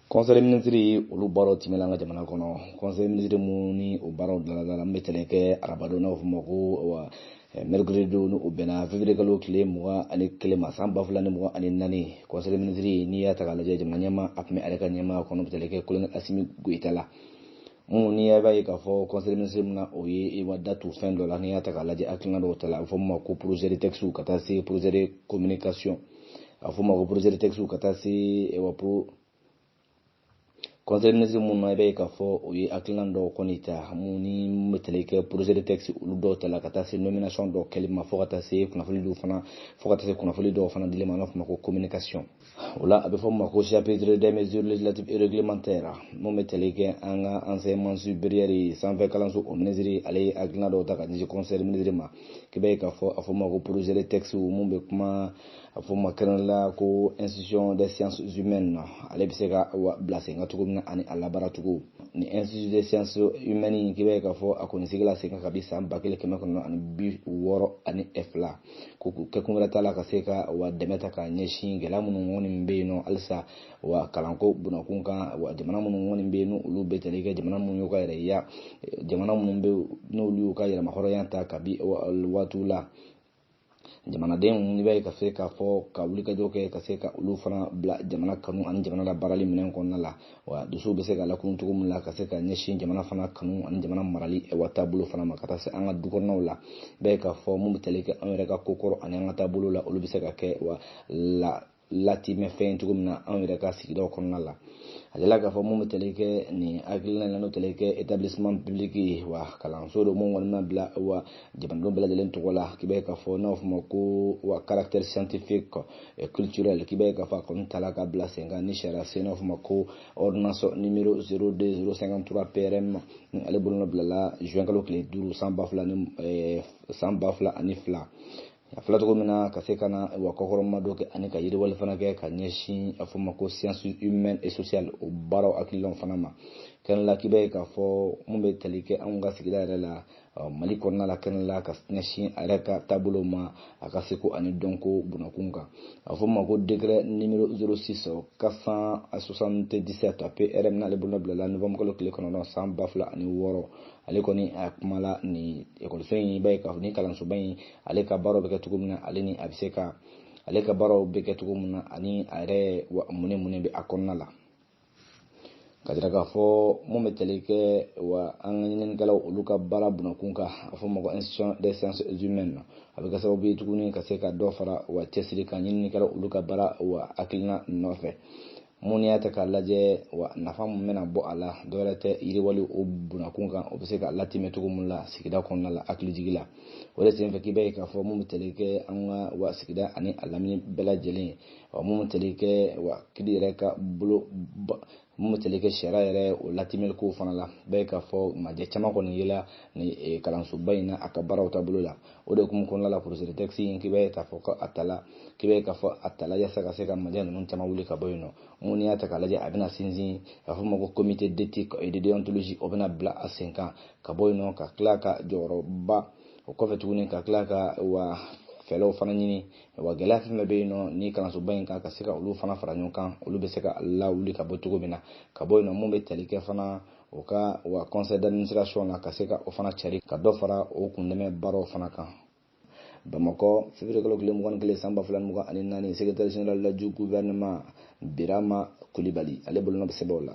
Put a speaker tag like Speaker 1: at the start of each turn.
Speaker 1: conseil ministre olu baaraw tɛmɛna an ka jamana kɔnɔ conseil ministre minnu ni o baaraw daladala mun bɛ tali kɛ arabadon n'a fɔ ma ko wa eh, mercredi don ni o bɛnna février kalo tile mugan ani kelen ma san ba fila ni mugan ani naani conseil ministre n'i y'a ta k'a lajɛ jamana ɲɛmaa a tun bɛ a yɛrɛ ka ɲɛmaaya kɔnɔ bɛ tali kɛ kolonɛli asimi goyita la minnu n'i y'a b'a ye k'a fɔ conseil ministre min na o ye i wa da tu fɛn dɔ la n'i y'a ta k'a lajɛ hakilina dɔw tala a bɛ fɔ min ma ko projet de textes ka taa se projet de communication a fɔ ma ko projet de texte ka taa se eh wa pro conseil ministre minnu na i b'a ye k'a fɔ o ye hakilina dɔw kɔni ta mun ni bɛ tali kɛ projet de texte olu dɔw tala ka taa se nomination dɔw kɛli ma fo ka taa se kunnafoni dɔw fana fo ka taa se kunnafoni dɔw fana dili ma an b'a fɔ ma ko communication o la a bɛ fɔ ma ko chapitre des mesures législatives et réglementaires mun bɛ tali kɛ an ka enseignement supérieur sanfɛ kalanso o ministre ale ye hakilina dɔw ta ka ɲɛsin conseil ministre ma k'i b'a ye k'a fɔ a fɔ ma ko projet de texte mun bɛ kuma a fɔ ma kɛnɛ la ko institution des sciences humaines na ale bɛ se ka bila sen kan cogo min na ani a labaara cogo ni institut des sciences humaines in k'i b'a ye k'a fɔ a kɔni sigila sen kan kabi san ba kelen kɛmɛ kɔnɔntɔn ani bi wɔɔrɔ ani fila ko k'u kɛkun wɛrɛ t'a la ka se ka wa dɛmɛ ta ka ɲɛsin gɛlɛya minnu kɔni bɛ yen n'o halisa wa kalanko bunda kun kan wa jamana minnu kɔni bɛ yen n'olu bɛ tali kɛ jamana minnu y'u ka yɛrɛya jamana minnu bɛ n'olu y'u ka yɛrɛmahɔrɔnya ta kabi waatiw la jamanadenw i b'a ye ka se k'a fɔ ka wulikajɔ kɛ ka se ka olu fana bila jamana kanu ani jamana la baarali minɛn kɔnɔna la wa dusuw bɛ se ka lakunun cogo min la ka se ka ɲɛsin jamana fana kanu ani jamana marali wa taabolo fana ma ka taa se an ka du kɔnɔnaw la i b'a ye k'a fɔ mun bɛ tali kɛ an yɛrɛ ka kokɔrɔ ani an ka taabolo la olu bɛ se ka kɛ wa la latimɛ fɛn cogo min na anw yɛrɛ ka sigidaw kɔnɔna la a jirala k'a fɔ mun bɛ tali kɛ nin hakilina in na n'o tali kɛ établissement public ye wa kalanso don mun kɔni ma bila wa jamanadenw bɛɛ lajɛlen tɔgɔ la k'i b'a ye k'a fɔ n'a fɔ ma ko wa caractère scientifique et culturel k'i b'a ye k'a fɔ a kɔni tala ka bila sen kan ni sariya sen n'a fɔ ma ko ordonnance numéro 02053 PRM ale bolonɔ bilala juin kalo tile duuru san ba fila ni san ba fila ani fila a fɔla cogo min na ka se ka na wa kɔkɔrɔmadon kɛ ani ka yiriwali fana kɛ ka ɲɛsin a fɔ ma ko science humaine et sociale o baaraw hakilinaw fana ma kɛnɛ la k'i b'a ye k'a fɔ mun bɛ tali kɛ anw ka sigida yɛrɛ la mali kɔnɔna la kɛnɛ la ka ɲɛsin a yɛrɛ ka taabolo ma a ka seko ani dɔnko bunda kun kan a fɔ ma ko décret numéro 06 477 PRM n'ale bolonɔ bilala novembre kalo tile kɔnɔntɔn san ba fila ani wɔɔrɔ ale kɔni a kumala nin ekɔliso in b'a ye k'a fɔ ni kalansoba in ale ka baaraw bɛ kɛ cogo min na ale ni a bɛ se ka ale ka baaraw bɛ kɛ cogo min na ani a yɛrɛ mun ni mun bɛ a kɔnɔna la ka jira k'a fɔ mun bɛ tali kɛ wa an ka ɲininnikɛlaw olu ka baara bunda kun kan a fɔ ma ko institution des sciences humaines na a bɛ kɛ sababu ye tuguni ka se ka dɔ fara wa cɛsiri kan ɲininnikɛlaw olu ka baara wa hakilina nɔfɛ mun n'i y'a ta k'a lajɛ wa nafa mun bɛna bɔ a la dɔwɛrɛ tɛ yiriwali o bunakun kan o bɛ se ka latɛmɛ cogo min la sigida kɔnɔna la hakilijigi la o de senfɛ k'i b'a ye k'a fɔ mun bɛ tali kɛ an ka wa sigida ani a lamini bɛɛ lajɛlen wa mun bɛ tali kɛ wa kiri yɛrɛ ka bolo mun bɛ tali kɛ sariya yɛrɛ o latɛmɛli kow fana la i b'a ye k'a fɔ majɛ caman kɔni yela ni kalansoba in na a ka baaraw taabolo la o de kun kɔnɔna la projet de texte in k'i b'a ye k'a fɔ ko a tala k'i b'a ye k'a fɔ a tala yasa ka se ka majɛ ninnu caman wuli ka bɔ yen nɔ mun n'i y'a ta k'a lajɛ a bɛna sinsin a fɔ ma ko comité d'éthique et de déontologie o bɛna bila a sen kan ka bɔ yen nɔ ka tila ka jɔyɔrɔba o kɔfɛ tuguni ka tila ka wa fɛɛrɛw fana ɲini wa gɛlɛya fɛn fɛn bɛ yen nɔ ni kalansoba in kan ka se ka olu fana fara ɲɔgɔn kan olu bɛ se ka lawuli ka bɔ cogo min na ka bɔ yen nɔ mun bɛ tali kɛ fana o ka wa conseil d'administration na ka se ka o fana cari ka dɔ fara o kundɛmɛ baaraw fana kan bamakɔ fevrier kalo tile mugan ni kelen san ba fila ni mugan ani naani secrétaire général du gouvernement birama kulibali ale bolonɔ bɛ sɛbɛnw la